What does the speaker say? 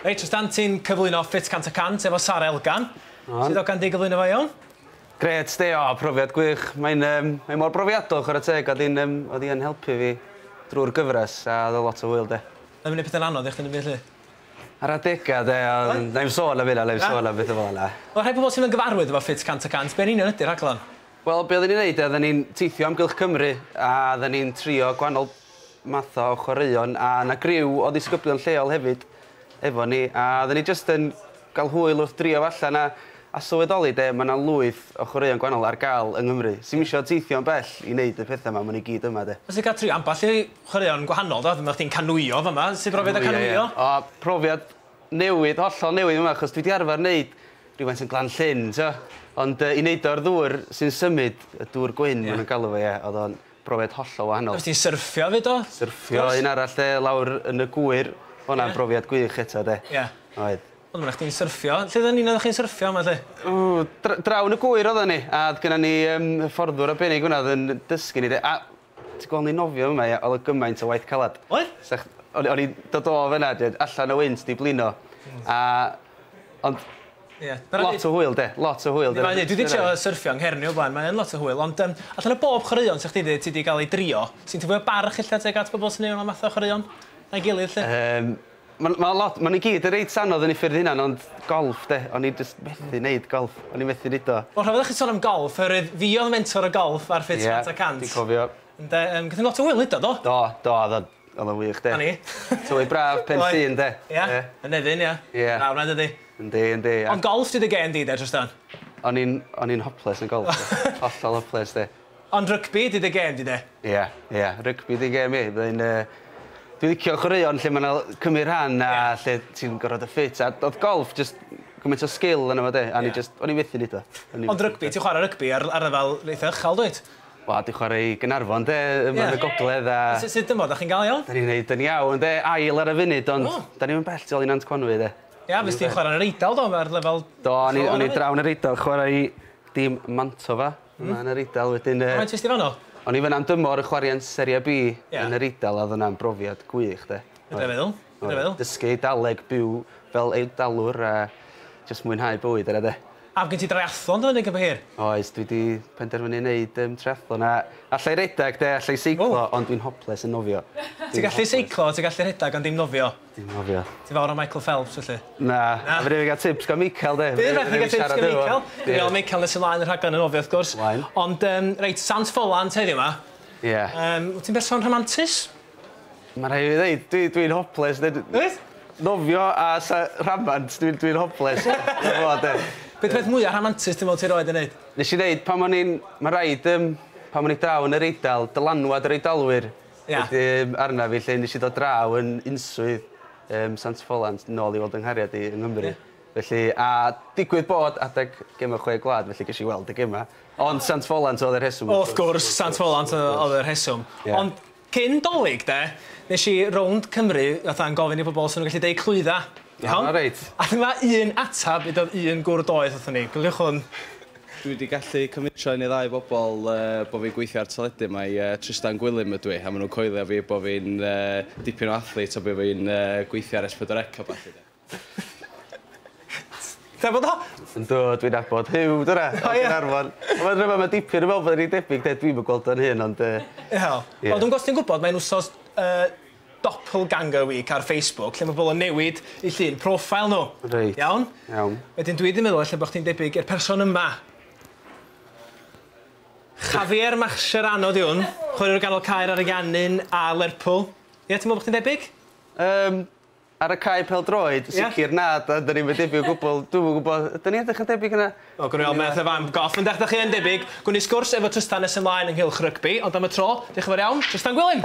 Reit, os dan ti'n cyflwyno ffit cant y cant efo Sara Elgan, sut ogan di gyflwyno fo iawn? Grêt sti, o profiad gwych, mae'n yym mae mor brofiadol chwarae teg, oedd hi'n yym oedd hi yn helpu fi drwy'r gyfres a oedd o lot o hwyl 'de. Oedd o'n neud petha'n anodd i chdi yn y byd 'lly? Ar adega 'de ond Oedd? nai'm sôn am hynna nai'm Na? sôn am betha fel 'na. Wel rhai pobl sydd yn gyfarwydd efo ffit cant y cant, be yn union ydi'r rhaglen? Wel be' oedden ni'n neud 'de oedden ni'n teithio amgylch Cymru a oedden ni'n trio gwahanol math o chwaraeon a o' 'na griw o ddisgyblion lleol hefyd efo ni a odden ni jyst yn ga'l hwyl wrth drio fo allan a a sylweddoli 'de ma' 'na lwyth o chwaraeon gwanol ar ga'l yng Nghymru sim isio teithio yn bell i neud y petha 'ma ma' n'w gyd yma 'de. Os ti'n ca'l trio ambell i chwaraeon gwahanol do? Dyma chdi'n canŵio fama, sut brofiad o canŵio? O profiad newydd hollol newydd yma achos dwi 'di arfar neud rywfaint yn Glan Llyn t'wo' ond yy i neud o ar ddŵr sy'n symud y dŵr gwyn ma' nw'n galw fo ie o'dd o'n Brofiad hollol wahanol. Wrth i syrffio fyd o? Syrffio un arall 'de lawr yn y gŵyr. O' wnna'n brofiad gwych eto 'de. Ia. Oedd. Wel ma' 'na chdi'n syrffio. Lle oddan ni'n oddach chi'n syrffio 'ma 'lly? O dra- draw yn y gŵyr oddan ni a o'dd gynnon ni yym hyfforddwr arbennig fynna o'dd yn dysgu ni 'de a ti gwel' ni'n nofio fy' 'ma ia o'dd o gymaint o waith calad. Oedd? Sech- o'n i o'n i'n dod o fynna 'dyn allan o wynt 'di blino a ond Ie. Lot o hwyl 'de? Lot o hwyl 'de? Yndi mae o, dwi 'di trio syrffio yng Nghernyw o blaen, mae yn lot o hwyl, ond yym allan o bob chwaraeon 'sech chdi 'di ti 'di ga'l ei drio, sy'n tŷ fwya barch ella tuag at bobol sy'n neu' fel math o chwaraeon na'i gilydd 'lly? Yym ma'n ma' lot ma' nw gyd yn reit anodd yn eu ffyrdd 'u hunan ond golff 'de o'n i jyst methu neud golff o'n i methu neud o. Wel rhyfedd i chi son am golff oherwydd fi odd mentor y golff ar Fit Fat a Cant. Ie dwi'n cofio. Ynde yym gathon ni lot o hwyl neud o do? Do do odd o'n odd o'n wych 'de. 'Na ni. Tywydd braf Pen-llŷn 'de? Ia. Ie. Yn Nefyn ia? Ie. Braf 'na dydi? Yndi yndi a... Ond golff ti dy gên di de Trystan? O'n i'n o'n i'n hoples yn golff de. Hollol hoples de. Ond rygbi di dy gên di de? Ia ia rygbi di gên fi rwy'n yy dwi licio chwaraeon lle ma' 'na l- cymyd rhan a lle ti'n gorod y ffit a do'dd golff jyst gymaint o sgil yno fo de a o'n i jyst o'n i methu neud o. O'n i... Ond rygbi ti'n chwara rygbi ar ar lefel eitha uchel dwyt? Wel dwi chwara i Gaernarfon de yma yn y gogledd a... Su- sud dymor 'dach chi'n ga'l iawn? 'Dan ni'n neud yn iawn de ail ar y funud ond 'dan ni'm yn bell tu ôl i Nant Conwy de. Ia, fys ti'n chwarae yn yr Eidal do, ar lefel... Do, o'n i, o'n i draw yn yr Eidal, chwarae i dîm Mantova, mm. yn yr Eidal, wedyn... Uh, Faint ysdi fanno? O'n i fyna'n dymor yn chwarae yn Serie B yeah. yn yr Eidal, a oedd yna'n brofiad gwych, de. Ydw i'n meddwl, ydw i'n meddwl. Dysgu Eidaleg, byw fel Eidalwr, a jyst mwynhau bywyd yna, de. A gen ti dreiathlon dyna neu hir? Oes, dwi wedi penderfynu wneud um, triathlon. A allai redeg de, allai seiclo, oh. ond dwi'n hoples yn nofio. Ti'n gallu seiclo, ti'n gallu redeg ond dim nofio? Dim cofio. Ti fawr o Michael Phelps felly? Na. Na? Fedrai 'im ga'l tips gan Michael 'de? Bydd rhaid i ni ga'l tips gan Michael. Dwi me'wl Michael nes ymlaen y rhaglen yn ofio wrth gwrs. Ymlaen. Ond yym reit Sant Ffolant heddiw 'ma. Ie. Yym wt ti'n berson rhamantus? Ma' rhai' fi ddeud dwi dwi'n hoples ded- Wyt? Nofio a sa rhamant dwi'n dwi'n hoples. Dwi fod 'de. Be' 'di peth mwya rhamantus ti'n me'wl ti rioed 'di neud? Nesh i neud pan o'n i'n ma' raid yym pan o'n i draw yn yr Eidal dylanwad yr Eidalwyr Ia. Wedi yym arnaf fi 'lly nes i ddod draw yn unswydd yym Sant Ffolant nôl i weld yng nghariad i yng Nghymru. Ie. Felly a digwydd bod adeg gema chwe gwlad felly gesh i weld y gema. Ond Sant Ffolant oedd y rheswm wrth gwrs. Wrth gwrs Sant Ffolant yy oedd y rheswm. Ie. Ond cyn 'Dolig 'de nesh i rownd Cymru fatha yn gofyn i pobol os o'n nw'n gallu deud clwydda. Iawn? Iawn reit. A dyma un atab i doedd un gwr doeth wrthon ni. Cofiwch hwn. Dwi wedi gallu cyfnitro un i ddau bobl bod fi'n gweithio ar teledu, mae Trystan Gwilym ydw i, a maen nhw'n coelio fi bod fi'n dipyn o athlete a bod fi'n gweithio ar S4C a ballu de. Ti'n nabod o? Yndw, dwi'n nabod Huw, dyna, o Gaernarfon. Mae'n rhyfedd, mae dipyn yn meddwl bod e'n rhy debyg de, dwi'm yn gweld o'n hyn ond yy... Wel, dwi'n gwybod, mae'n wsos yy Doppelganger Week ar Facebook lle mae pobl yn newid eu llun profile nhw. Reit. Iawn? Iawn. Wedyn dwi 'di meddwl ella bo' chdi'n debyg i'r person yma. Javier Mascherano 'di hwn, chwaraewr ganol cae ar Ariannin a Lerpwl. Ie, ti'n meddwl bo' chdi'n debyg? Yym, ar y cae pêl-droed, sicr na, 'dan ni'm yn debyg o gwbwl. Dwi'm yn gwybod, ydyn ni edrych yn debyg yna? O, gawn ni weld, mae fatha fan goll. Ond dach chi yn debyg. Gawn ni sgwrs efo Trystan nes ymlaen ynghylch rygbi, ond am y tro, diolch yn fawr iawn, Trystan Gwilym!